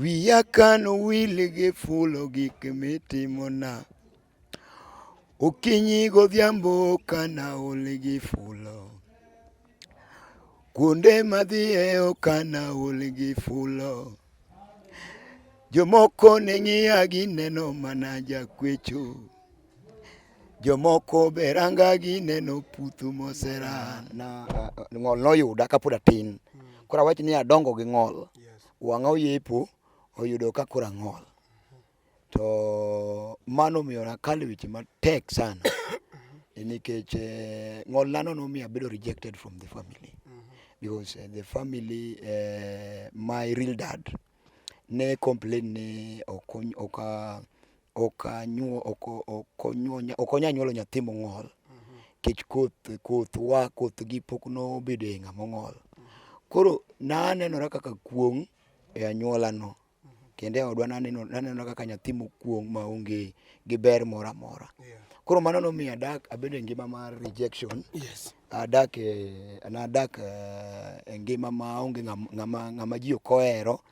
Wiya kan wil gi fulo gik mitimona Okinyi godhiambo kana ol gi fulo Kuonde madhiye okana ol gi fulo Jomoko ne ng'iya gineno mana jakwecho Jomoko be ranga gineno puthu moserana Ng'ol noyuda kapod atin Koro awach ni adongo gi ng'ol Wang'a oyepo oyudo ka koro ang'ol. To mano omiyo nakalo weche matek sana nikech eh, ng'olnano nomiyo abedo rejected from the family because eh, the family eh, my real dad ne complain ni ok ony- ok a- ok anyuo ok ok onyuo ok onya nyuolo nyathi mong'ol kech koth koth wa koth gi pok nobedo e ng'ama ong'ol. Koro nanenora kaka kuong' e anyuola no kendo e odwa naneno nanenora kaka nyathi mokuong' ma onge gi ber moro amora. Koro mano nomiyo adak abedo e ngima mar rejection, Yes. adak e nadak eh, e ngima ma onge ng'am- ng'ama ng'ama ji ok ohero.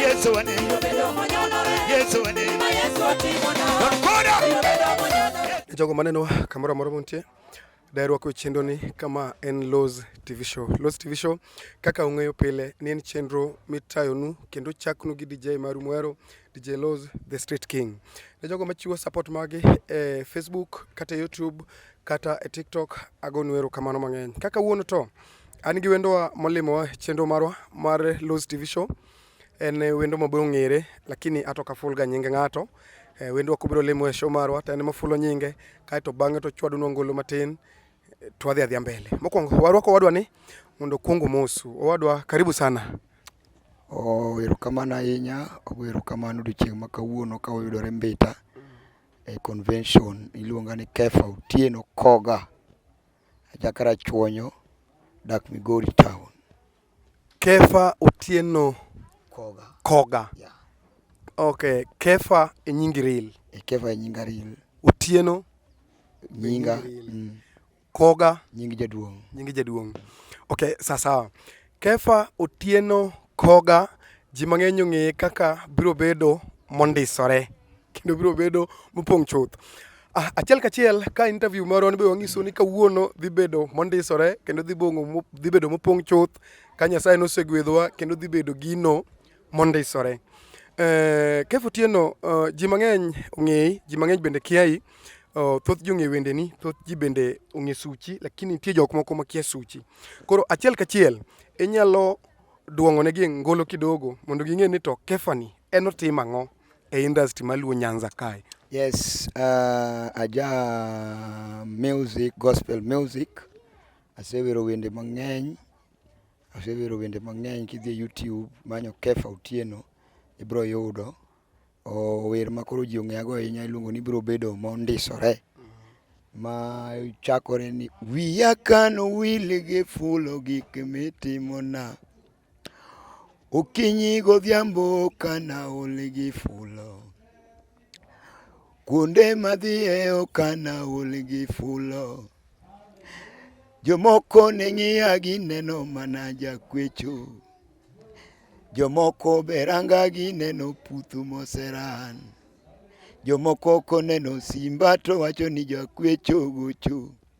Yesu ane Yesu ane e jogo maneno kamoro amora muntie daher wako chenro ni kama en Loz TV show. Loz TV show kaka ung'eyo pile ni en chenro mitayonu kendo chaknu gi DJ maru mwero DJ Loz the Street King. Ne jogo machiwo support magi e Facebook kata YouTube kata e TikTok agonu erokamano mang'eny. Kaka wuono to An gi wendowa molimowa chenro marwa mar Los TV Show. En wendo mabiro ng'ere lakini ato ka full ga nyinge ng'ato. Eh, wendwa kubiro limo e show marwa to en ema fulo nyinge kaeto bang'e to chwadunwa ngolo matin eh, to wadhi adhia mbele. Mokwongo warwako owadwa ni mondo okuong omosu. Owadwa karibu sana. Oh, erokamano ahinya. Ogo erokamano odiochieng' ma kawuono ka uyudore Mbita e convention iluonga ni Kefa Otieno Koga. Ajakarachuonyo, dak Migori town. Kefa Otieno Koga. Koga. Yeah. Okay, Kefa e nyingi real. E Kefa e nyinga real. Otieno nyinga mm. Koga nyingi jaduong. Nyingi jaduong. Okay, sasa Kefa Otieno Koga ji mang'eny ong'eye kaka biro bedo mondisore. kendo biro bedo mopong' chuth. Ah, achiel kachiel ka interview marwa ni be wang'iso ni kawuono dhi bedo mondisore kendo dhi bong'o dhi bedo mopong' chuth ka Nyasaye nosegwedhowa kendo dhi bedo gino mondisore. Eh, Kev Otieno, eh, ji mang'eny ong'eyi, ji mang'eny bende kiayi. Oh, thoth ji ong'e wendeni, thoth ji bende ong'e suchi, lakini nitie jok moko makia suchi. Koro achiel kachiel inyalo duong'onegi ngolo kidogo mondo ging'e ni to Kefani en otim ang'o? e industry maluo Nyanza kae? Yes, uh, aja music, gospel music. Asewero wende mang'eny. Asewero wende mang'eny kidhi e YouTube manyo Kefa Otieno ibro yudo. O wer ma koro ji ong'eya go ahinya iluongo ni bro bedo mondisore. Ma chakore ni wiya kano wili gi fulo gik mitimona. Okinyi godhiambo kana ol gi fulo kuonde madhiye okana ol gi fulo jomoko ne ng'iya gineno mana jakwecho jomoko be ranga gineno putu moseran jomoko koneno simba to wacho ni jakwecho gocho.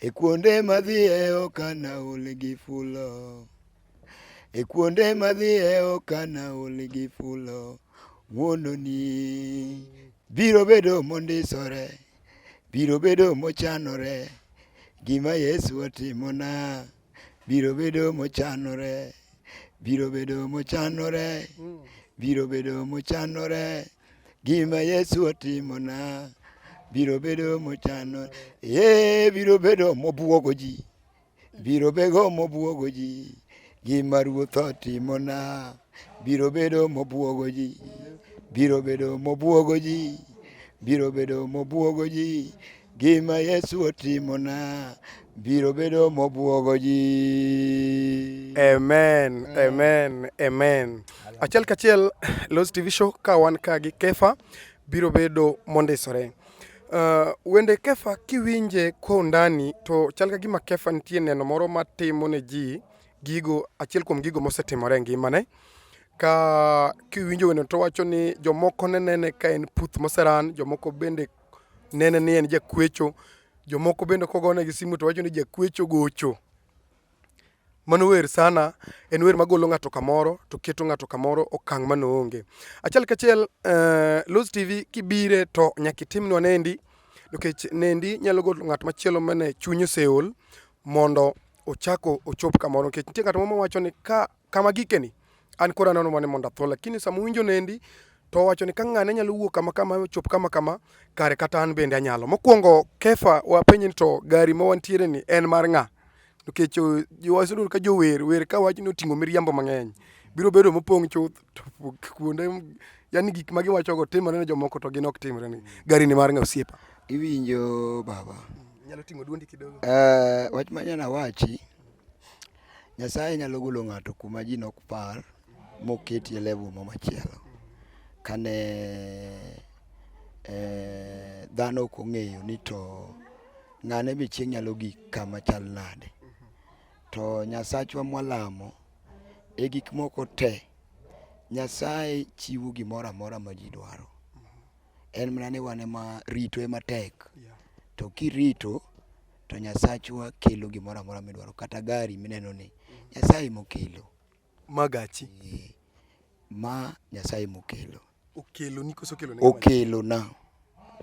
E kuonde madhiye okana ol gi fulo E kuonde madhiye okana ol gi fulo Wuononi biro bedo mondisore Biro bedo mochanore Gima Yesu otimona Biro bedo mochanore Biro bedo mochanore Biro bedo mochanore Gima Yesu otimona biro bedo mochano, ee, biro bedo mobwogo ji, biro bedo mobwogo ji. Gima Ruoth otimona biro bedo mobwogo ji, biro bedo mobwogo ji, biro bedo mobwogo ji. Gima Yesu otimona biro bedo mobwogo ji. Amen, amen, amen. Achiel kachiel Los TV show ka wan ka gi Kefa biro bedo mondisore. Uh, wende Kefa kiwinje kwa undani to chal ka gima Kefa nitie neno moro matimo ne ji gigo achiel kuom gigo mosetimore e ngimane ka kiwinjo wende to wacho ni jomoko ne nene ka en puth moseran, jomoko bende nene ni en jakwecho. Jomoko bende kogonegi simu to wacho ni jakwecho gocho. Mano wer sana, en wer magolo ng'ato kamoro to keto ng'ato kamoro okang' mane oonge. Achiel kachiel uh, Luz TV kibire to nyaka itimnwa nendi nikech nendi nyalo golo ng'at machielo mane chuny oseol mondo ochako ochop kamoro nikech nitie ng'at moro mawacho ni ka Kama gikeni, an koro anono mane mondo atho, lakini sama uwinjo nendi to owacho ni ka ng'ane nyalo wuok kama kama ochop kama kama kare kata an bende anyalo. Mokwongo Kefa wapenje ni to gari ma wantiere ni en mar ng'a? Nikech eh, wasebedo ka jower wer ka wach ni oting'o miriambo mang'eny biro bedo mopong' chuth to kuonde yani gik ma giwachogo timore ne jomoko to gin ok timre ni gari ni mar ng'a osiepa. Iwinjo baba? Nyalo ting'o duondi kidogo. Eh, wach manyana wachi Nyasaye nyalo golo ng'ato kuma ji nok par moketi e level ma machielo kane eh, dhano ok ong'eyo ni to ng'ane be chieng' nyalo gik kama chal nade to nyasachwa mwalamo e gik moko te nyasaye chiwo gimoro amora ma ji dwaro en mana ni wan ema rito ema tek to kirito to Nyasachwa kelo gimoro amora midwaro kata gari mineno ni Nyasaye emokelo. Ma gachi? Ee, ma Nyasaye emokelo. Okelo ni koso okelo ni? Okelo na.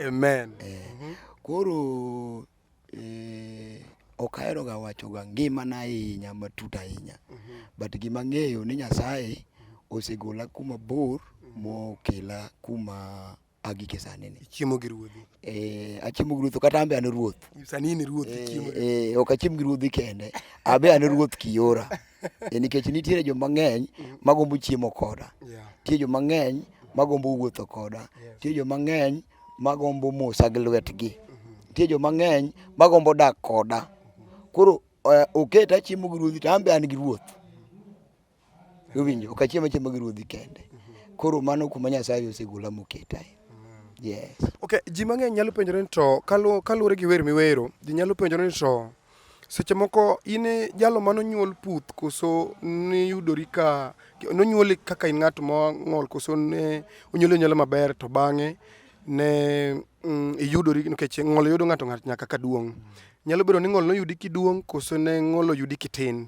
Amen. Ee, mm -hmm. Koro ee, ok ahero ga wacho ga ngima na ahinya matut ahinya. Mm -hmm. But gima ng'eyo ni Nyasaye osegola kuma bor mokela kuma agike sani ni chiemo gi ruodhi eh achiemo gi ruoth kata ambe an ruoth sani ni ruoth eh, chiemo eh ok achiem gi ruodhi kende abe an ruoth kiora e nikech nitiere jo mang'eny magombo chiemo koda nitie jo mang'eny magombo wuotho koda nitie jo mang'eny magombo mosa gi lwetgi mm-hmm. nitie jo mang'eny magombo dak koda koro eh, oketa chiemo gi ruodhi to ambe an gi ruoth Iwinjo, ok achiem achiema gi ruodhi kende. Koro mano kuma Nyasaye osegola moketae. Yes. Okay, ji mang'eny nyalo penjore ni to kalu- kaluwore gi wer miwero, ji nyalo penjore ni to seche moko in e jalo ma nonyuol puth koso niyudori ka nonyuoli kaka in ng'at mong'ol koso ne onyuoli onyuola maber to bang'e ne mm, iyudori nikech ng'ol yudo ng'ato ng'ato nyaka ka duong'. Nyalo bedo ni ng'ol noyudi kiduong' koso ne ng'ol oyudi kitin.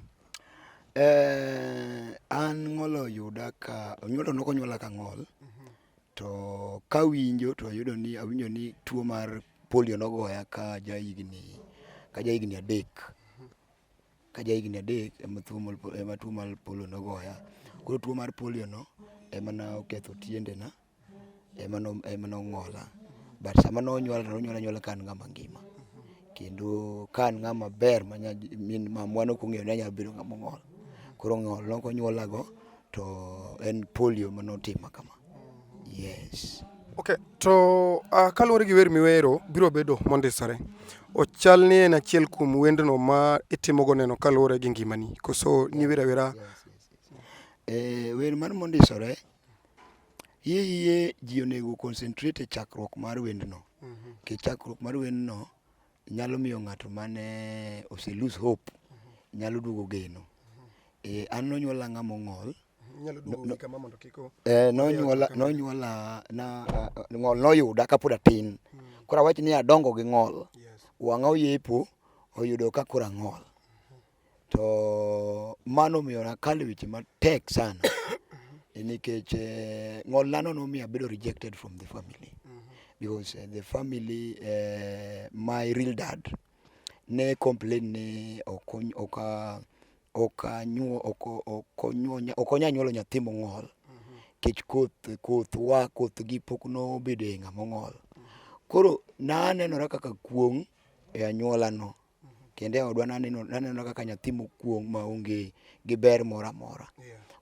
Eh, an ng'ol oyuda ka onyuola nok onyuola ka ng'ol to kawinjo to ayudo ni awinjo ni tuo mar polio nogoya ka ja higni ka ja higni adek ka ja higni adek ema tuo mar ema tuo mar polio nogoya. Koro tuo mar polio no ema noketho tiendena ema nong'ola but sama nonyuola to nonyuola anyuola ka an ng'ama ngima kendo ka an ng'ama ber ma min mamwa ne ok ong'eyo ni anyalo bedo ng'ama ong'ol koro ng'ol nok onyuolago to en polio ma notima kama yes okay to uh, kaluwore gi wer miwero biro bedo mondisore ochal ni en achiel kuom wendno ma itimogo neno kaluwore gi ngimani koso niwera wera yes, yes, yes. Eh, wer mar mondisore Hie hie ji onego concentrate e chakruok mar wendno. Mhm. Ke chakruok mar wendno nyalo miyo ng'ato mane ose lose hope mhm. nyalo duogo geno. Mhm. Eh, an nonyuola ng'ama ong'ol. Nyalo duogo no, kama mondo kik Eh, nonyuola nonyuola na uh, ng'ol noyuda kapod atin. Hmm. Koro awach ni adongo gi ng'ol. Yes. Wang'a oyepo oyudo ka koro ang'ol. To mano omiyo nakalo weche matek sana nikech eh, ng'olnano nomiyo abedo rejected from the family because eh, the family eh, my real dad ne complain ni okony- oka- okanyuo- oko- okonyonya- okonya nyuolo nyathi mong'ol kech koth koth wa koth gi pok nobedo e ng'a mong'ol koro nanenora kaka kuong' e anyuolano kendo e odwa naneno naneno kaka nyathi mokuong' ma onge gi ber moro amora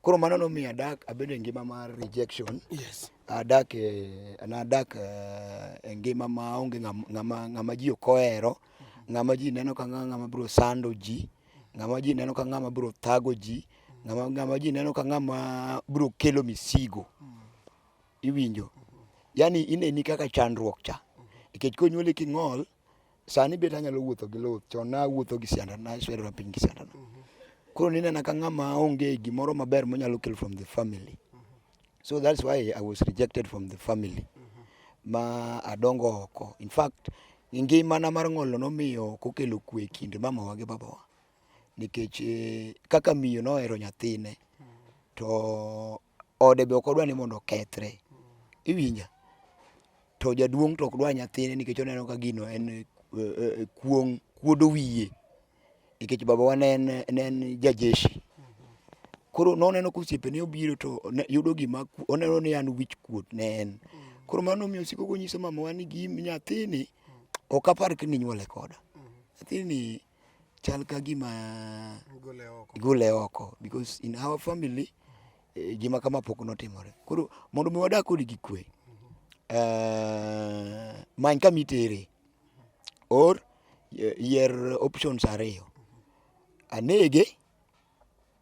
koro mano nomiyo adak abedo e ngima mar rejection Yes. adak e nadak eh, e ngima ma onge ng'am- ng'ama ng'ama ji ok ohero ng'ama ji neno ka ng'a- ng'ama biro sando ji ng'ama ji neno ka ng'ama biro thago ji ng'ama ng'ama ji neno ka ng'ama biro kelo misigo iwinjo yani ineni kaka chandruok cha nikech konyuoli king'ol Sani bet anyalo wuotho gi luth, chon nawuotho gi sianda, naswerora piny gi sianda. Koro ninena ka ng'ama onge gimoro maber monyalo kelo from the family. So that's why I was rejected from the family. Ma adongo oko. In fact, ngimana mar ng'olno nomiyo ok okelo kwe e kind mamawa gi babawa. Nikech eh, kaka miyo nohero nyathine to ode be ok odwa ni mondo okethre. Iwinja? To jaduong' to ok dwa nyathine nikech oneno ka gino en kuong' kuodo wiye. Nikech babawa ne en ne en ja jeshi. Koro noneno ka osiepene obiro to ne yudo gima oneno ni an wich kuot ne en. Koro mano nomiyo osiko konyiso mamawa ni nyathini ok apar ka ninyuole koda. Nyathini. chal ka gima igole oko because in our family eh, gima kama pok notimore. Koro mondo mi wadak kodi gi kwe, eh, many kama itere or eh, yier options ariyo, anege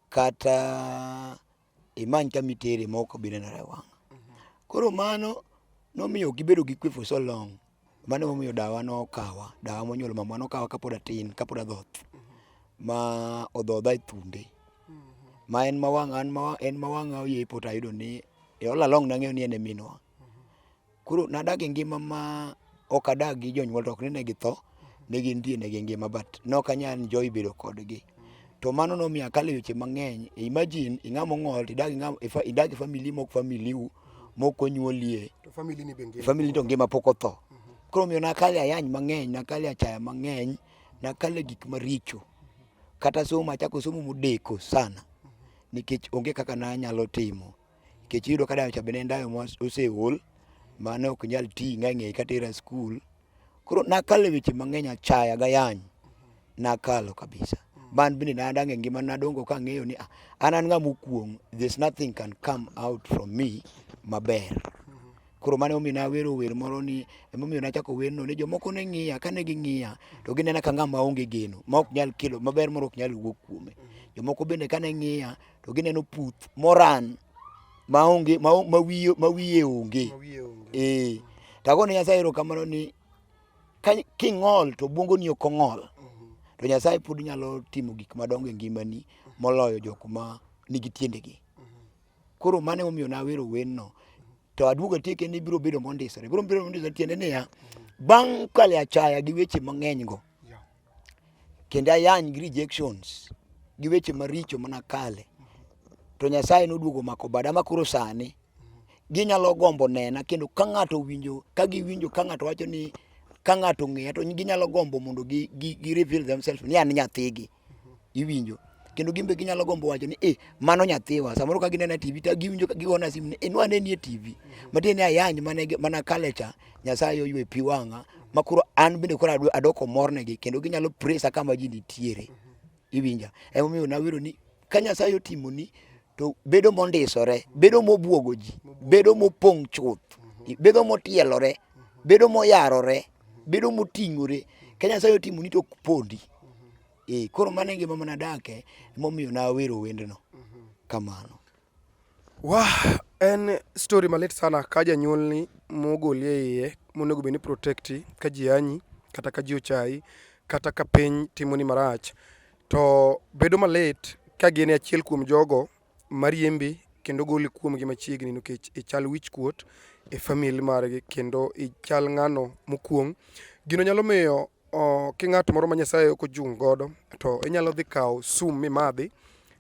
kata imany kama itere ma ok obi nenore e wang'. Koro mano nomiyo gibedo gi kwe for so long. Mano emomiyo dawa nokawa, dawa monyuolo mamwa nokawa kapod atin, kapod adhoth. Ma odhodha e thunde, ma en ma wang'a, en ma wang'a oyie e poto ayudo ni all along nang'eyo ni en e minwa. Koro nadak e ngima ma ok adak gi jonyuol to ok ni ne githo, ne gintie ne gingima but ne ok anyal enjoy bedo kodgi. To mano nomiyo akalo e weche mang'eny. Imagine ing'ama ong'ol to idak gi ng'ama idak gi family ma ok family u mok onyuolie. To family ni be ngima. Family to ngima pok otho. Koro omiyo nakale ayany mang'eny, nakale achaya mang'eny, nakale gik maricho. Kata somo achako somo modeko sana nikech onge kaka nanyalo timo. nikech iyudo ka dayo cha bende en dayo moseol mane ok nyal ti nga ng'eyi katera skul koro nakalo e weche mang'eny achaya gayany nakalo kabisa man bende nadange ngima nadongo kang'eyo ni ah, an an ng'ama okuong there's nothing can come out from me maber koro mane omiyo nawero wer moro ni emomiyo nachako werno ni jomoko ne ng'iya kane ging'iya to ginena ka ng'ama onge geno ma ok nyal kelo maber moro ok nyal wuok kuome jomoko bende kane ng'iya to gineno puth moran ma onge ma o- ma wiye ma wiye onge Ma wiye onge. eh tagone nyasaye erokamano ni ka- king'ol to bwongoni ok ong'ol Mhm. to nyasaye pod nyalo timo gik madongo e ngimani moloyo jok ma nigi tiendegi koro mane omiyo nawero wenno to aduogo atieke ni biro bedo mondisore biro bedo mondisore tiende niya bang' kale achaya gi weche mang'enygo kendo ayany gi rejections gi weche maricho mana kale to Nyasaye noduogo mako bada ma koro sani ginyalo gombo nena kendo ka ng'ato winjo ka giwinjo ka ng'ato wacho ni ka ng'ato ng'eya to ginyalo gombo mondo gi, gi, gi reveal themselves ni an nyathigi iwinjo kendo gin be ginyalo gombo wacho ni eh mano nyathiwa samoro ka ginena TV to giwinjo ka gigona simu ni eh nwaneni e TV matiende ni ayany mane mana kale cha Nyasaye oywe pi wang'a ma koro an bende koro adoko mornegi kendo ginyalo presa kama ji nitiere. Iwinja? Emomiyo nawero ni ka Nyasaye otimoni to bedo mondisore, bedo mobwogo ji, bedo mopong' chuth, bedo motielore, bedo moyarore, bedo moting'ore. Ka Nyasaye otimoni to ok pondi. Eh, koro mano e ngima manadake, emomiyo nawero wendno. Kamano. Wah, en story malit sana ka janyuolni mogoli e iye monego bed ni protecti ka ji anyi kata ka ji ochayi kata ka piny timoni marach to bedo malit ka gin e achiel kuom jogo mariembi kendo goli kuomgi machiegni nikech ichal wich kuot e famili margi kendo ichal ng'ano mokuong'. Gino nyalo miyo King'at moro ma Nyasaye ok ochung' godo to inyalo dhi kawo sum mimadhi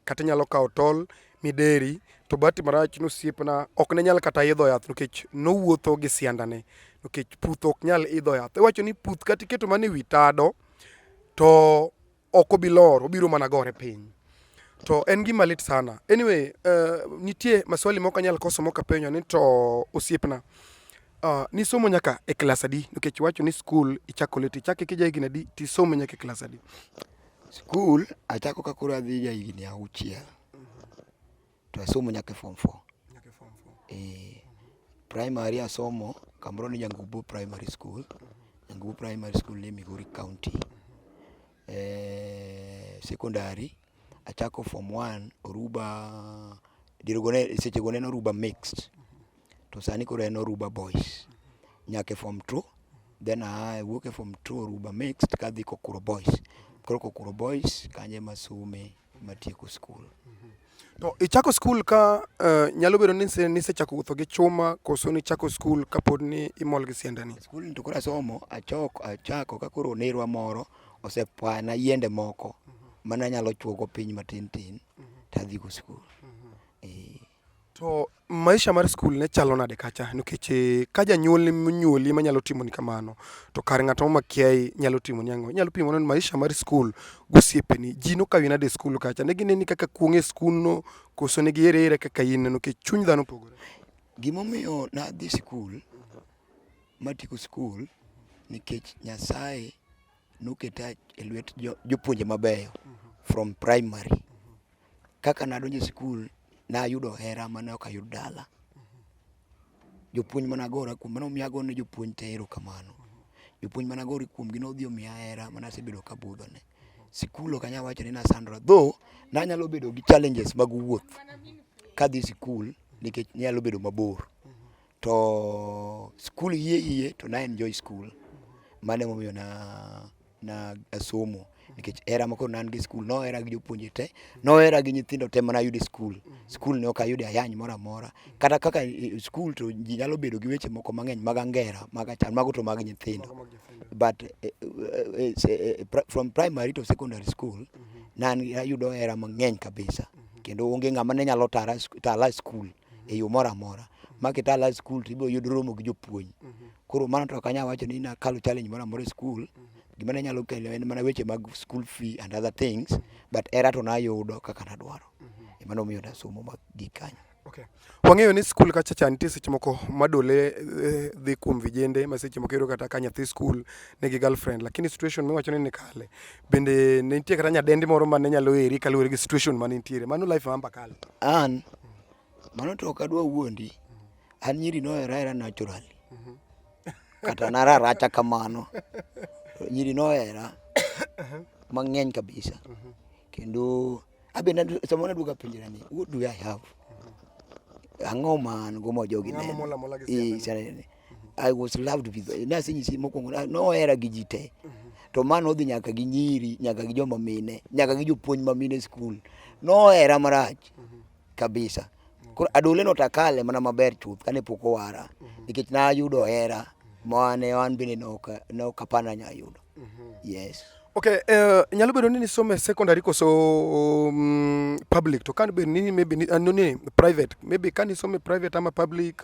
kata inyalo kawo tol mideri to bahati marach ni osiepna ok ne nyal kata idho yath nikech nowuotho gi siandane nikech puth ok nyal idho yath. Iwacho ni puth kata iketo mana e wi tado to ok obi lor, obiro mana gore piny. To en gima lit sana. Anyway, uh, nitie maswali moko anyal koso moko apenyo ni to osiepna. Uh, nisomo nyaka e klas adi? Nikech wacho ni skul ichako leti, ichake kija higni adi tisomo nyaka e klas adi? Skul achako ka koro adhi ja higni auchiel. to asomo nyaka e form 4. Nyaka e form 4. Eh. Primary asomo kamoro ni Nyangubu Primary School. Nyangubu Primary School ni Migori County. Eh, secondary achako form 1 Oruba dirogone seche go neno Oruba mixed. To sani koro en Oruba boys. Nyaka e form 2 then I work e form 2 Oruba mixed kadhi Kokuro boys. Koro Kokuro boys kanye masome. matieko skul. Mhm. To ichako skul ka uh, nyalo bedo ni nisechako wuotho gi chuma koso nichako skul kapod ni imol gi siandani? Skul to koro asomo achoko achako ka koro nerwa moro osepwana yiende moko mhm. mana nyalo chuogo piny matin tin mhm. tadhigo skul. To maisha mar skul ne chalo nade kacha? Nikech eh, ka janyuolni monyuoli ema nyalo timoni kamano, to kar ng'at ma makiayi nyalo timoni ang'o? Inyalo pimo nade maisha mar skul gosiepeni? Ji nokawi nade e skul kacha? Ne gineni kaka kuong' e skundno koso ne giheri ahera kaka in no? Nikech chuny dhano opogore. Gimomiyo nadhi skul, matieko skul nikech Nyasaye Noketa e lwet jopuonje mabeyo from primary. Kaka nadonjo e skul, nayudo hera mane ok ayud dala. Jopuonj mane agora kuom gi, mano miyo agoyo ne jopuonj te erokamano. Jopuonj mane agora kuom gi nodhi omiya hera mane asebedo ka abudho ne. Sikul ok anyal wacho ni nasandora, though nanyalo bedo gi challenges mag wuoth kadhi sikul nikech ne nyalo bedo mabor. To skul hie hie to na enjoy skul, mano emomiyo na na asomo nikech era moko nan gi skul no era gi jopuonje te no era gi nyithindo te mana yude skul skul ne ok ayude ayany moro amora kata kaka eh, skul to ji nyalo bedo gi weche moko mang'eny mag angera mag achan mago to mag nyithindo but eh, eh, eh, from primary to secondary school mm -hmm. nan ayudo era mang'eny kabisa mm -hmm. kendo onge ng'ama ne nyalo tara tala skul mm -hmm. e yo moro amora ma kita la skul to ibiro yudo romo gi jopuonj koro mano to ok anyal wacho ni nakalo challenge moro amora e skul gima ne nyalo kelo en mana weche mag school fee and other things but era to nayudo kaka nadwaro emano omiyo nasomo mag gik kanyo Okay. Wang'eyo ni skul kacha cha nitie seche moko madole eh, dhi kuom vijende ma seche moko iyudo kata ka nyathi skul nigi girlfriend lakini situation miwacho ni nikale bende ne nitie kata nyadendi moro ma ne nyalo eri kaluwore gi situation ma ne nitiere mano life ma amba kale an Mano to ok adwa wuondi. An nyiri nohera hera naturally. Kata nararacha kamano. Nyiri nohera mang'eny kabisa. Kendo abe nadu- sama naduoga penjra ni what do I have? Ang'o ma an go ma jogi Ng'ama neno? mola mola gi Eh, siandane. siandane. I was loved with nase nyisi mokwongo nohera gi ji te to ma nodhi nyaka gi nyiri nyaka gi joma mine nyaka gi jopuonj ma mine skul nohera marach kabisa koro adole no takale mana maber chuth kane pok owara nikech nayudo hera mane an bende nokapana nyayudo yes Okay, uh, nyalo bedo ni nisome secondary koso um, public to kan be ni maybe ni, uh, no, ni private maybe kan nisome private ama public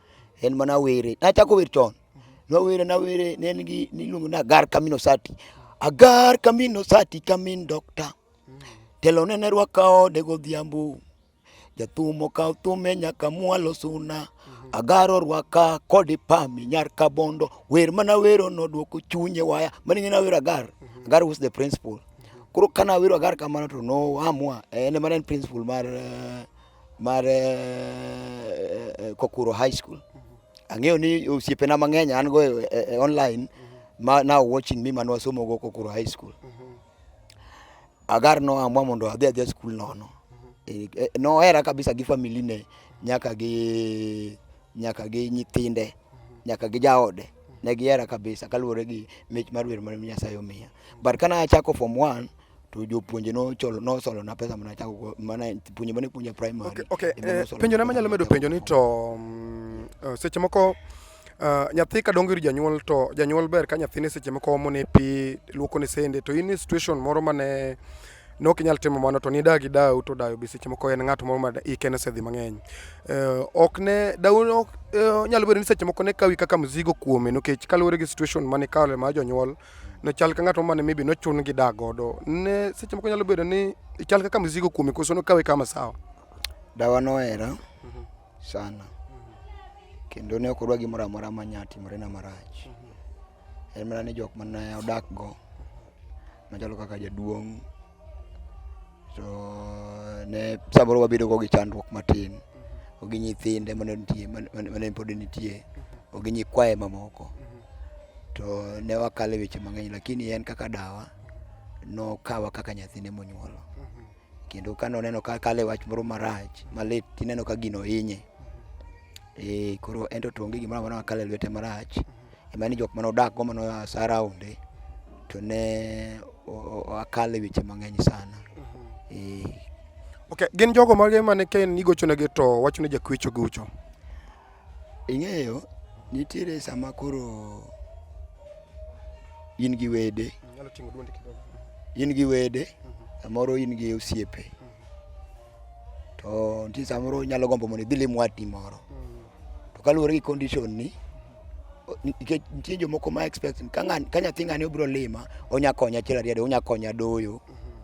en mana were. Nachako wer chon, nawere nawere, ne en gi niluongo ni Agar Kamino Sati. Agar Kamino Sati kamin dokta, telo nene rwaka ode godhiambo. Jathum okawo thume nyaka mwalo suna, Agar orwaka kode pami nyar kabondo. Wer mana wero nodwoko chunye waya, mano ing'e nawero Agar, Agar was the principal. Koro ka nawero Agar kamano to noamua, en ema ne en principal mar eh, mar eh, Kokuro High School. Ang'eyo ni osiepena mang'eny an go e, e, e online ma now watching me man wasomo go Kokuro High School. Agar no amwa mondo adhi adhi skul nono. E, e, Nohera kabisa gi family ne nyaka gi nyaka gi nyithinde nyaka gi jaode ne gihera kabisa kaluwore gi mich mar wer mar Nyasaye omiya. But kana achako form 1 to jopuonje nocholo nosolona pesa mana chako mana puonje mane puonja primary okay, okay. Eh, penjo na manyalo medo penjo ni to um, uh, seche moko Uh, nyathi ka dongo ir janyuol to janyuol ber ka nyathine seche moko omone pi luokone sende to in e situation moro mane nok inyal timo mano to nida gi dau to dayo be seche moko en ng'at moro ma ike nosedhi mang'eny uh, ok ne dau ok uh, nyalo bedo ni seche moko ne kawi kaka mzigo kuome nikech kaluwore gi situation mane kawe ma jonyuol ne chal ka ng'at mane maybe nochun gi dak godo ne seche moko nyalo bedo ni ichal kaka mzigo kuome koso nokawe kama sawa dawa nohera mhm. sana mhm. kendo ne ok odwa gimoro amora ma nya timorena marach mhm. en mana ni jok mane odakgo machalo kaka jaduong' to ne samoro wabedo go gi chandruok matin ogi nyithinde mane nitie mane pod nitie ogi nyikwaye mamoko to ne wakale weche mang'eny lakini en kaka dawa nokawa kaka nyathine monyuolo kendo ka noneno ka kale wach moro marach malit tineno ka gino hinye eh koro ento to onge gimoro amora makale lwete marach ema ni jok mane odak go mane oa saraunde to ne akale weche mang'eny sana e. Okay, gin jogo mage mane ka en igochonegi to wacho ni jakwecho gucho? Ing'eyo, nitiere sama koro in gi wede in gi wede samoro in gi osiepe to nitie samoro inyalo gombo mondo idhi lim watni moro to kaluwore gi condition ni nikech nitie jomoko ma expect ka nyathi ng'ani obiro lima onya konya achiel ariyo adek onya konya doyo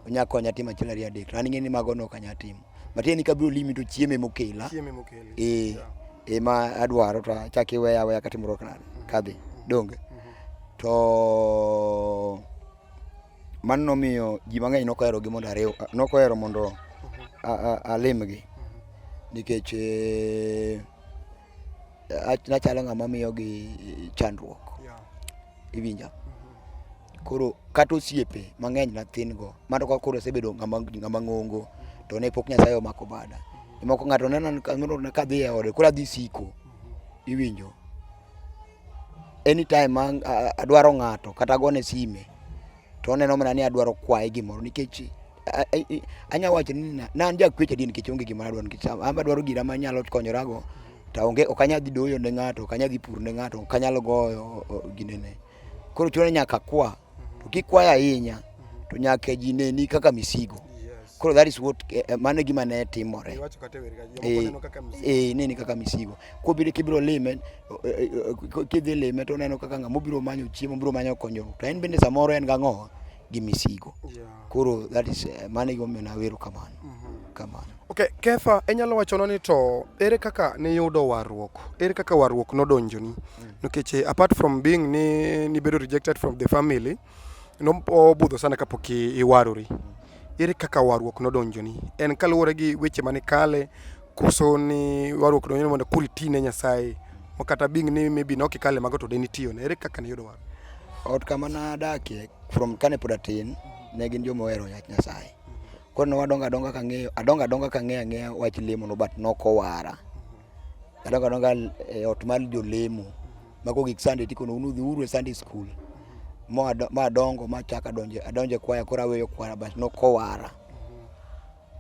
onya konya timo achiel ariyo adek to an ing'e ni mago ne ok anyal timo matieni kabiro limi to chieme mokela ee ema adwaro to achak iweya aweya katimruok nade kadhi donge mm-hmm. to Mano nomiyo ji mang'eny nok oherogi mondo ariw, nok ohero mondo alimgi nikech eh, nachalo ng'ama miyogi chandruok. Iwinja? Mm-hmm. Koro kata osiepe mang'eny nathin go, mano ka koro asebedo ng'ama ng'ongo to ne pok Nyasaye omako bada. Mm-hmm. Moko ng'ato neno kadhi e ode, koro adhi siko. Mm-hmm. Iwinjo? Anytime ma adwaro ng'ato kata agone sime to oneno mana ni adwaro kwaye gimoro nikech anya wacho ni na an jakwecho adier nikech onge gima adwaro nikech an be adwaro gira manyalo konyorago to onge ok anyal dhi doyo ne ng'ato ok anyal dhi pur ne ng'ato ok anyal goyo ginene koro chuno ni nyaka akwa to kik kwayo ahinya to nyaka ji neni kaka misigo koro that is what eh, eh, mano gima ne timore eh, eh nini kaka misigo kobiro kibiro lime kidhi lime to oneno kaka ng'ama obiro manyo chiemo obiro manyo konyruok to en bende samoro en gang'owa gi misigo koro that is mano gimomiyo nawero kamano mm-hmm. kamano Okay, Kefa, inyalo wachona ni to ere kaka niyudo warruok? Ere kaka warruok nodonjoni? Mm. Nikech eh, apart from being ni nibedo rejected from the family, nobudho sana kapok iwarori. Mm. Ere kaka warruok nodonjoni? En kaluwore gi weche mane kale koso ni warruok donjoni mondo kuri tine Nyasaye? Makata being ni maybe ne ok ikale mago to de nitiyone. Ere kaka niyudo warruok? Ot kama nadakie from kane pod atin ne gin joma ohero yach Nyasaye. Koro ne wadongo adonga ka ng'eyo, adongo adonga ka ng'eyo ang'eya wach lemo no but nok owara. Adongo adonga e ot mar jolemo. Ma koro gik Sunday tikono unu dhi uru e Sunday school. Ma ado- ma adongo ma achako adonjo adonjo e kwaya koro aweyo kwaya but nok owara.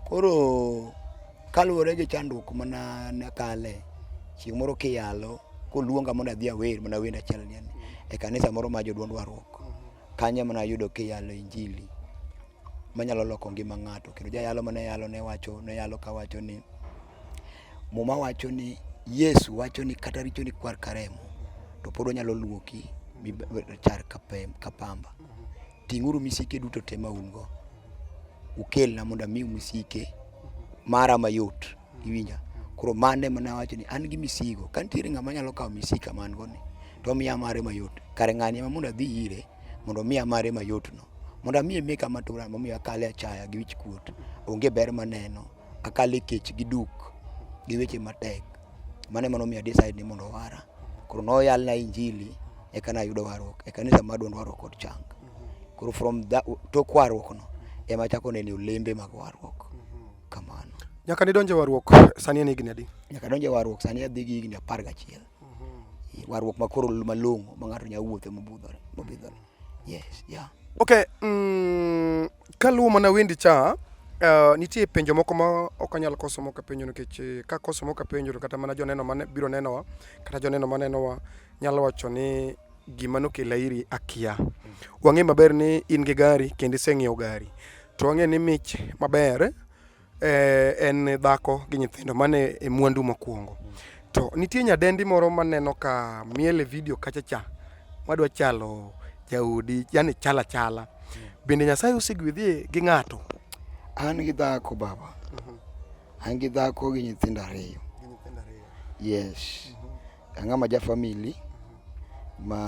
Koro kaluwore gi chandruok mana nakale, chieng' moro kiyalo koluonga mondo adhi awer mana wend achiel ni e kanisa moro ma jodwond warruok. Kanyo ema nayudo kiyalo injili. manyalo loko ngima ng'ato kendo jayalo mane yalo ne wacho ne yalo ka wacho ni muma wacho ni Yesu wacho ni kata richo ni kwar karemo to pod onyalo luoki char ka pamba ting'uru misike duto te ma un go ukelna mondo amiu misike mara mayot iwinja koro mande mana wacho ni an gi misigo ka nitiere ng'ama nyalo kawo misika man go ni to miya mare mayot kare ng'ani ema mondo adhi ire mondo miya mare mayot no Mondo amiye mek ama tura momiyo akale achaya gi wich kuot. Onge ber maneno. Akale kech gi duk gi weche matek. Mano ema nomiyo decide ni mondo owara. Koro noyalna injili eka nayudo warruok. E kanisa ma Duond Warruok kod Chang. Koro from that tok warruok no ema achako neno olembe mag warruok. Kamano. Nyaka nidonje warruok sani en higni adi? Nyaka donje warruok sani adhi gi higni apar gachiel. Warruok ma koro malong'o ma ng'ato nya wuothe mobudhore mobidhore. Yes, yeah. Okay, mm, kaluwo mana wendi cha Uh, nitie penjo moko ma ok anyal koso moko penjo nikech eh, ka koso moko penjo kata mana joneno mane biro nenowa kata joneno ma nenowa nyalo wacho ni gima nokela iri akia. Wang'e maber ni in gi gari kendo iseng'iewo gari. To wang'e ni mich maber eh, en dhako gi nyithindo mane e mwandu mokwongo to nitie nyadendi moro maneno ka miel e vidio kacha cha madwa chalo jaodi yani chala chala bende nyasaye osegwedhie gi ng'ato an gi dhako baba an gi dhako gi nyithindo ariyo yes ang'ama ja famili ma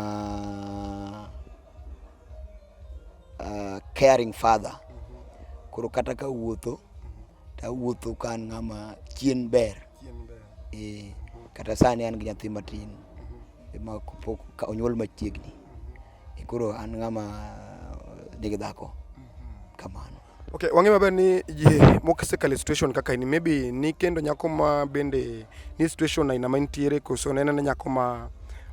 uh, caring father koro kata ka wuotho to awuotho ka an ng'ama chien ber eh, kata sani an gi nyathi matin ma pok ka onyuol machiegni Eh, koro an ng'ama nigi dhako kamano Okay, wang'e maber ni ji mosekale situation kaka ini maybe ni kendo nyako ma bende ni situation aina ma intiere koso nene ne nyako ma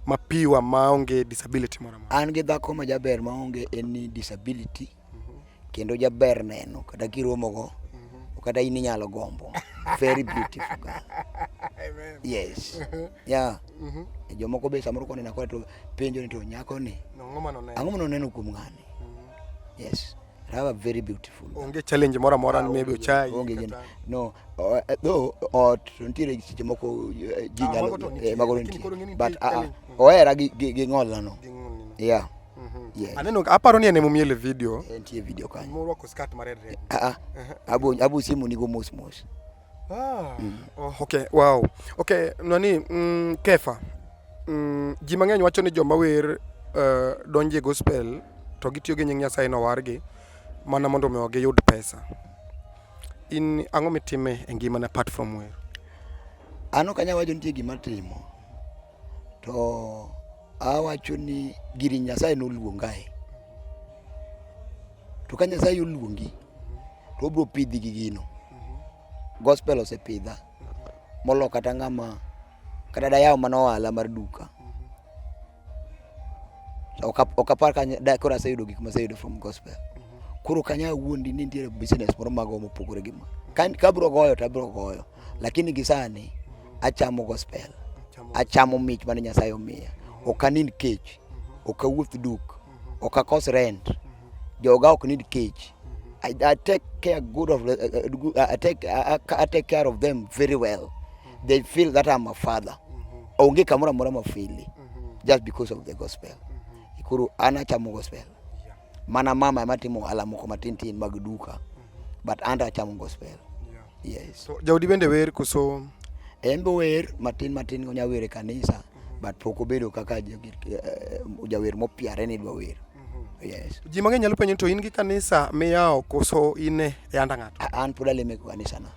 mapiwa maonge disability moro amora. An gi dhako ma jaber maonge en ni disability mm -hmm. kendo jaber neno kata kiromogo mm -hmm. kata in inyalo gombo very beautiful girl. Amen. Yes. yeah. Mm -hmm. Jomoko be samoro konena kwa to penjo ni to nyako ni. Ang'o ma noneno? Ang'o ma noneno kuom ng'ani? Mm -hmm. Yes. have a very beautiful onge challenge moro amora ah, maybe ochai onge gin no though ot nitiere seche moko eh, ji ah, nyalo eh, mago nitie but ah, ah, ohera gi gi ng'olna no yeah mhm. Yes. Aneno aparo ni anemo miele video. Entie video kanyo. Moro ko skat mared red. Ah ah. Abu abu simu nigo mos mos. Ah, mm. oh. Okay, wow. Okay, nani mm, Kefa. Mm, ji mang'eny wacho ni joma wer uh, donje gospel to gitiyo gi nying Nyasaye no wargi mana mondo mi giyud pesa. In ang'o mitime e ngimana apart from wer? An ok anyal wacho nitie gima timo. to awacho ni giri Nyasaye noluongae. To ka Nyasaye oluongi to obiro pidhi gi gino. Gospel osepidha molo kata ng'ama kata dayawo mana ohala mar duka. Ok apar ka koro aseyudo gik maseyudo from gospel. Koro ok anyal wuondi ni nitiere business moro mago mopogore gi ma. Ka abiro goyo to abiro goyo. Lakini gisani achamo gospel, achamo mich mane Nyasaye omiya. Ok anind kech, ok awuoth duk, ok akos rent, joga ok nind kech. I, I take care good of uh, uh, I take I, I take care of them very well. They feel that I'm a father. Onge kamora mora mafili just because of the gospel. Ikuru ana chamo gospel. Mana mama ema timo ohala moko matin tin mag duka. Mm -hmm. But anda achamo gospel. Yeah. Yes. So, Jaudi bende wer koso? En be wer matin matin onya wer e kanisa. Mm -hmm. But pok obedo kaka eh, jawer mopiare ni dwa wer. Mm-hmm. Yes. Ji mang'eny nyalo penjo to in gi kanisa miyawo koso in e anda ng'ato? An pod aleme kanisa na.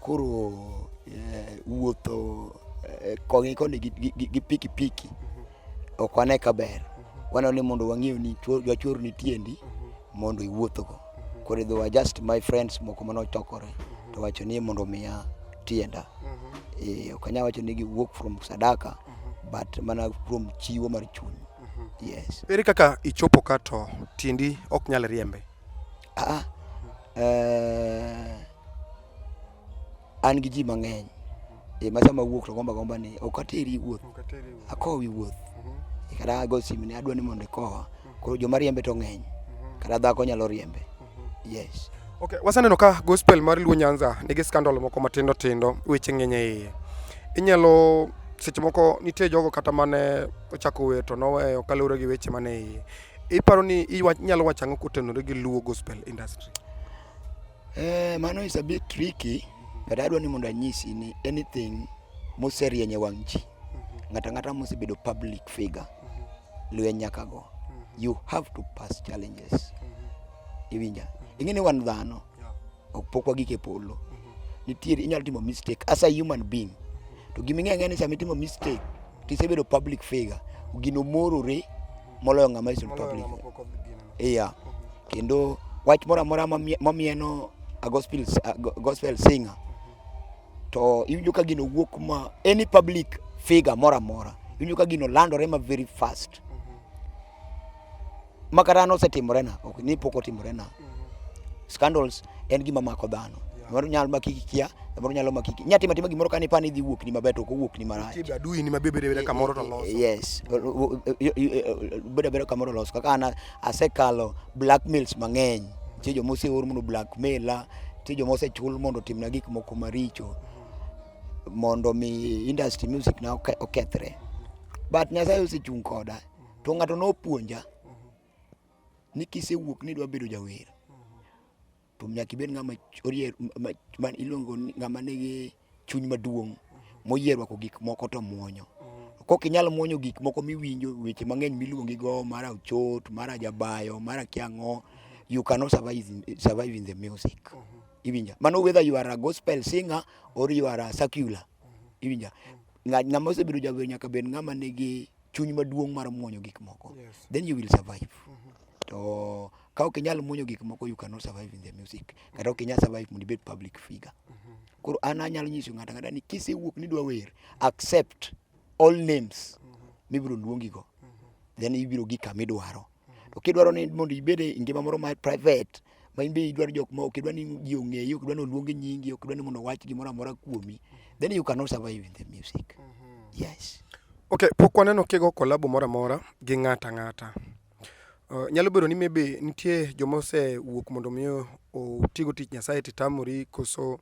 Koro eh, wuotho eh, koni koni gi, gi, gi, gi piki piki ok wane ka ber waneno ni mondo wang'eyo ni chuo- jachor ni tiendi mondo iwuothogo koro idhi wa just my friends moko mane ochokore to wacho ni mondo omiya tienda Eh, ok anyal wacho ni gi work from sadaka but mana from chiwo mar chuny yes Ere kaka ichopo ka to tiendi ok nyal riembe? Aa, eh, an gi ji mang'eny e ma sama wuok to gomba gomba ni ok ateri wuoth akowi wuoth e kata ago simu ni adwa ni mondo ikowa koro joma riembe to ng'eny kata dhako nyalo riembe yes Okay, wasaneno ka gospel mar Luo Nyanza nigi scandal moko matindo tindo, weche ng'eny e iye. Inyalo seche moko nitie jogo kata mane ochako wer to noweyo kaluwore gi weche mane iye. Iparo ni inyalo wacho ang'o kotenore gi Luo gospel industry? Eh, mano is a bit tricky but adwa ni mondo anyisi ni anything moserieny e wang' ji mhm. ng'ata ng'ata mosebedo public figure mhm. lwe nyaka go mhm. you have to pass challenges iwinja ing'e ni wan dhano ok pok wagik e polo nitiere inyalo timo mistake as a human being to gima ing'eyo ni sama itimo mistake to isebedo public figure gino morore moloyo ng'ama iso public iya kendo wach moro amora mamieno a gospel, a gospel singer to iwinjo ka gino wuok ma any public figure moro amora iwinjo ka gino landore ma very fast Makata nosetimorena, ok ni pok otimorena. Scandals en gima mako dhano. Moro nyalo maki kia, moro nyalo maki. Nya tima tima gimoro kani pani dhi wuok ni maber to kowuok ni marach. Tibe adui ni mabebe bebe kamoro to loso. Yes. Bebe bebe kamoro loso. Kaka ana asekalo blackmails mang'eny. Che jo mose or mondo blackmaila, che jo mose chul mondo timna gik moko maricho. Mondo mi industry music na okethre. But Nyasaye osechung' koda. to ng'ato nopuonja ni kisewuok ni idwa bedo jawer to nyaka ibed ng'ama orier ma- ma iluongo ni ng'ama nigi chuny maduong' moyie rwako gik moko to muonyo kok inyal muonyo gik moko miwinjo weche mang'eny miluongi go mara ochot mara jabayo mara kiang'o you cannot survive in, survive in the music iwinja mano whether you are a gospel singer or you are a secular iwinja Ng'a- ng'ama osebedo jawer nyaka bed ng'ama nigi chuny maduong' mar muonyo gik moko yes. then you will survive mm -hmm. to ka ok inyal muonyo gik moko you cannot survive in the music mm-hmm. kata ok inyal survive mondo ibed public figure mm -hmm. koro an anyalo nyiso ng'ato ang'ata ni kisewuok ni dwa wer accept all names mm -hmm. mibiro luongigo mm -hmm. then ibiro gi kama idwaro To kidwaro ni mondo ibed e ngima moro ma private ma in be idwaro jok ma ok idwar ni ji ong'eyi, ok idwar ni oluong nyingi, ok idwar ni mondo owach gimoro amora kuomi, then you cannot survive in the music. Mm-hmm. Yes. Okay, pok waneno kigo kolabo moro amora gi ng'ato ang'ata. Uh, nyalo bedo ni maybe nitie joma osewuok mondo mi otigo tich Nyasaye titamori koso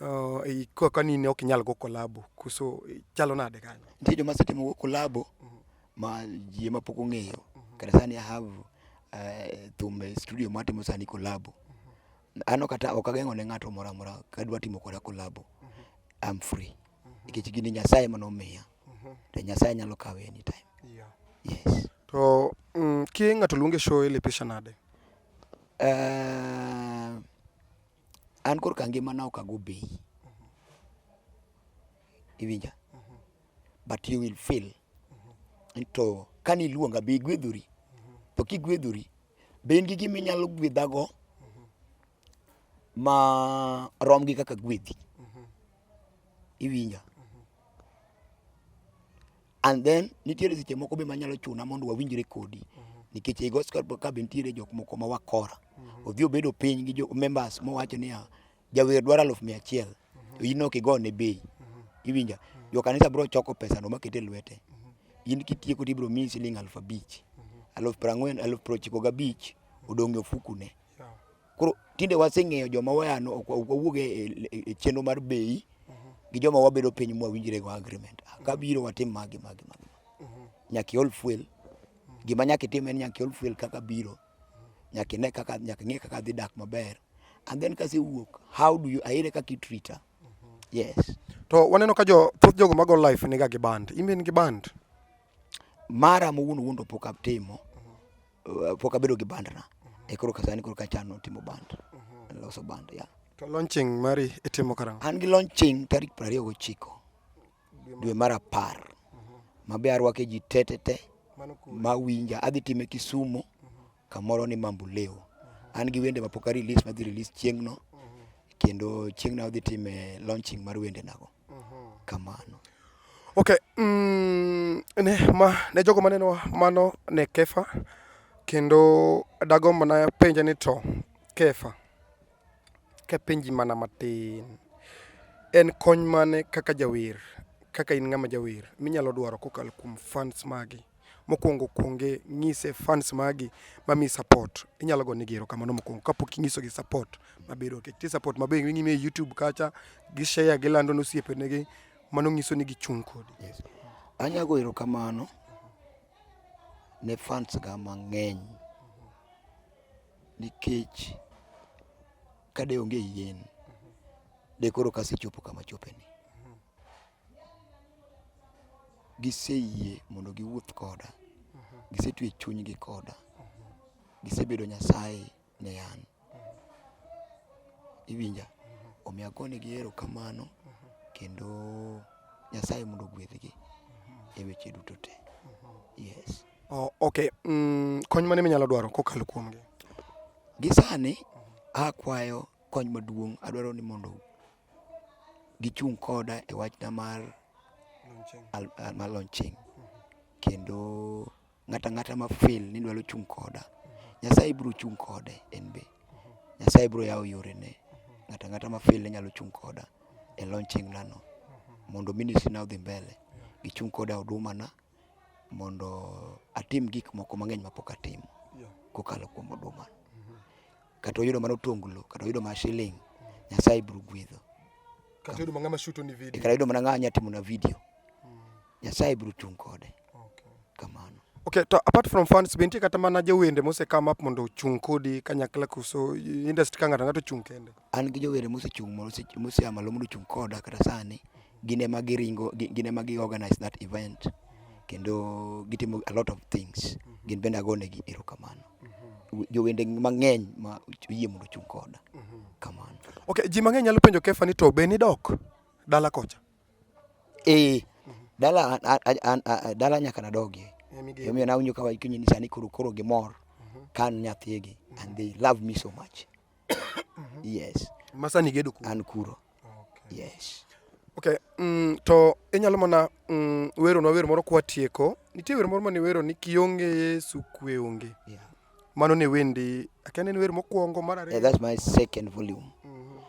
uh, kaka ni ne ok inyal go kolabo koso chalo nade kanyo? Nitie joma setimo go kolabo mm-hmm. ma ji ma pok ong'eyo kata sani I have eh, thum e studio ma atimo sani kolabo ano kata ok ageng'o ne ng'ato moro amora ka dwa timo koda kolabo I'm free nikech gini Nyasaye ema nomiya to Nyasaye nyalo kawe anytime Yeah. yes To mm, ki ng'ato luonge show ilepesha nade? Eh, An korka ngimana ok ago bei. Iwinja? But you will feel. To kane iluonga be igwedhori. To kigwedhori, be in gi gima inyalo gwedhago ma rom gi kaka agwedhi? Iwinja? And then nitiere seche moko be manyalo chuna mondo wawinjre kodi mhm. nikech ei Gospel Club nitiere jok moko ma wakora. Mhm. Odhi obedo piny gi jo members mowacho niya jawer dwaro aluf mia achiel mhm. to in ok igone bei. Iwinja? Jo kanisa biro choko pesano maket e lwete. In kitieko to ibiro miyi siling' aluf abich. Aluf piero ang'wen, aluf piero ochiko gabich odong' e ofukune. Koro tinde waseng'eyo joma wayano ok wawuog e chenro mar bei gi joma wabedo piny mwawinjre go agreement. Ah, Kabiro watim magi magi magi. Nyaka iol fuel. Gima nyaka itim en nyaka iol fuel kaka biro. Nyaka ine kaka nyaka ing'e kaka dhi dak maber. And then kasi wuok, how do you aire kaka itrita? Yes. To waneno ka jo thoth jogo mago life niga gi band. Imbe in gi band? Mara mowuon wuon to pok atimo. Uh, pok abedo gi band na e koro kasani koro kachano timo band loso band ya To launching mari itimo karang'o? an gi launching tarik piero ariyo gochiko dwe mar apar mabe arwake ji tetete Mano ku mawinja adhi time kisumu kamoro ni mambuleo an gi wende mapok a release madhi release chieng'no kendo chieng'no adhi time launching mar wende nago kamano. Ok, mm, ne, ma, ne jogo maneno mano ne Kefa, kendo dago mana penja ni to Kefa, kapenji mana matin, en kony mane kaka jawer, kaka in ng'ama jawer, minyalo dwaro kokalo kuom fans magi? Mokwongo kwonge ng'ise fans magi mamiyi support. Inyalo go negi erokamano mokwongo kapok inyisogi support maber ok ti support maber ing'ime e YouTube kacha gi share gilando ne osiepenegi mano ng'iso ni gichung' kodi. Yes. Anya go erokamano ne fans ga mang'eny nikech kade onge yien de koro kasechopo kama chopeni. giseyie mondo giwuoth koda, gisetwe chunygi koda, gisebedo Nyasaye ne an. Iwinja? Omiyo agonegi erokamano kendo Nyasaye mondo ogwedhgi e weche duto te. Yes. Oh, ok, mm, kony mane minyalo dwaro kokalo kuomgi? Gisani akwayo kony maduong' adwaro ni mondo gichung' koda e wachna mar mar launching kendo ng'ata ng'ata ma feel ni dwaro chung' koda, Nyasaye bro chung' kode en be. Nyasaye bro yawo yorene, ng'ata ng'ata ma feel ni nyalo chung' koda e launching na no mondo ministry na odhi mbele, gichung' koda e huduma na mondo atim gik moko mang'eny mapok atimo kokalo kuom huduma. Kata oyudo mana otonglo, kata oyudo mana shilling, Nyasaye biro gwedho. Kata oyudo mana ng'ama shoot ni video. Kata oyudo mana ng'ama nya timo na video. Nyasaye biro chung' kode. Okay. Kamano. Okay, to apart from fans be nitie kata mana jowende mose come up mondo ochung' kodi kanyakla kuso industry ka ng'ato ng'ato ochung' kende? An gi jower mosechung' moseya malo mondo ochung' koda kata sani, gin ema giringo gin ema gi organise that event kendo gitimo a lot of things. Gin bende ago negi erokamano. Jowende mang'eny ma oyie mondo ochung' koda. Kamano. Ok, ji mang'eny nyalo penjo Kefa ni to be nidok dala kocha? Ee, dala an dala nyaka nadogie. Emomiyo nawinjo ka wacho ni sani koro gimor ka an nyathigi and they love me so much. Mhm. yes masa ni gedo kuro an kuro okay. yes okay mm, to inyalo mana mm, wero na wero moro kwa tieko nitie wero moro mane wero ni kionge yesu kwe onge yeah. mano ne wendi akene ni wero mokwongo mar ariyo yeah, that's my second volume mm -hmm.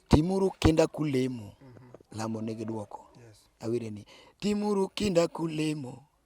timuru kinda kulemo mm -hmm. lamo nigi dwoko yes. awire ni timuru kinda kulemo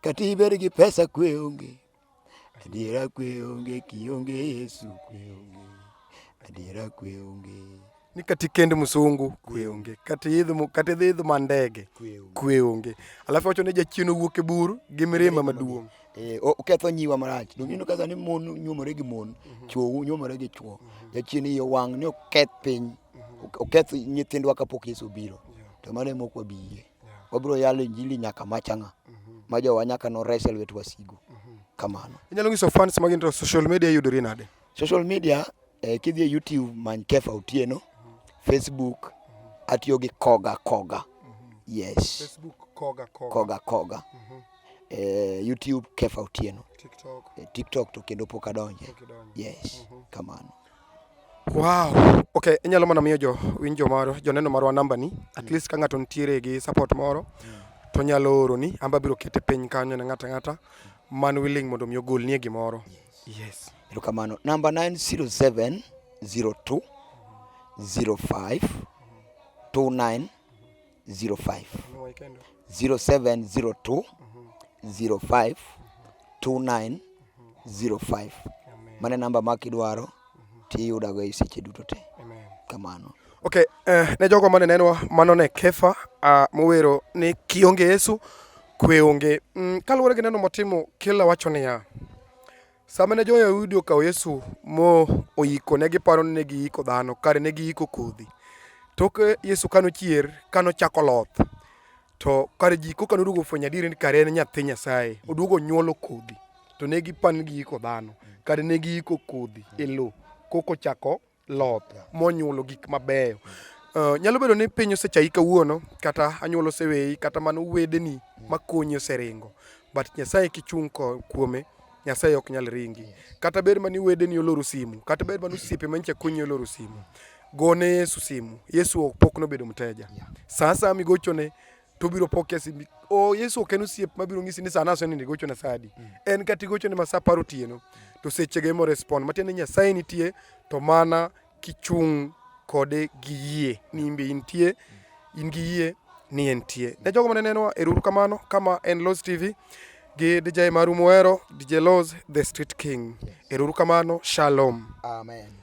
Kata ibed gi pesa kwe onge, adiera kwe onge, kionge Yesu kwe onge, adiera kwe onge. Ni kata ikend msungu kwe onge, kata idho kata idhi idho mandege kwe onge. Alafu wacho ni jachien owuok e bur gi mirima maduong'. Eh, oketho nyiwa marach. Donge ineno kaka ni mon nyuomore gi mon, mhm. chwo nyuomore gi chwo. Mhm. Jachien iye wang' ni oketh piny, mhm. oketh nyithindwa kapok Yesu obiro. To mano e mok wabiyie. Wabiro yalo injili nyaka machanga mhm. ma jowa nyaka nores e lwet wasigu. Mhm. Kamano. Inyalo nyiso fans magi to social media yudore nade? Social media eh, kidhi e YouTube many Kefa Otieno, mhm. Facebook atiyo gi Koga Koga. Yes. Facebook Koga Koga. Koga Koga. Eh, YouTube Kefa Otieno. TikTok. Eh, TikTok to kendo pok adonje. Yes. Kamano. Wow. Okay, inyalo mana miyo jo winjo maro joneno marwa namba ni at mm. least ka ng'ato nitiere gi support moro to nyalo oro ni amba biro kete piny kanyo ne ng'ata ng'ata man willing mondo mi ogol nie gimoro. Yes. Erokamano. Namba 907 02 05 29 05 0702 05 29 05 mano e namba ma kidwaro tiyudago e seche duto te kamano ok eh, ne jogo mane nenwa mano ne kefa ah, mowero ni kionge yesu kwe onge mm, kaluwore gi neno motimo kila wacho niya Sama ne Jo-Yahudi okawo Yesu mo oyiko, ne giparo ni ne giyiko dhano, kare ne giyiko kodhi. Tok Yesu ka nochier, ka nochako loth, to kare ji koka noduogo ofwenyo adieri ni kare en nyathi Nyasaye, oduogo onyuolo kodhi. To ne giparo ni giyiko dhano, kare ne giyiko kodhi e lowo, koka ochako loth monyuolo gik mabeyo. Uh, nyalo bedo ni piny osechayi kawuono kata anyuola oseweyi kata mano wedeni makonyi oseringo but Nyasaye kichung' kuome Nyasaye ok nyal ringi. Kata ber mani wedeni oloro simu, kata ber mani osiepe manyicha konyi oloro simu. Gone Yesu simu. Yesu pok nobedo mteja. Saa saa migochone to biro po kesimbi o yesu ok en osiep mabiro ng'isi ni sana aseni nigochone sa adi mm. en kata igochone ma sa apar otieno to sechege morespond matiende ni nyasaye nitie to mana kichung' kode gi yie ni imbe intie mm. in gi yie ni entie ne jogo mane nenowa eruru kamano kama en los tv gi dj maru muhero dj los the street king eruru kamano shalom amen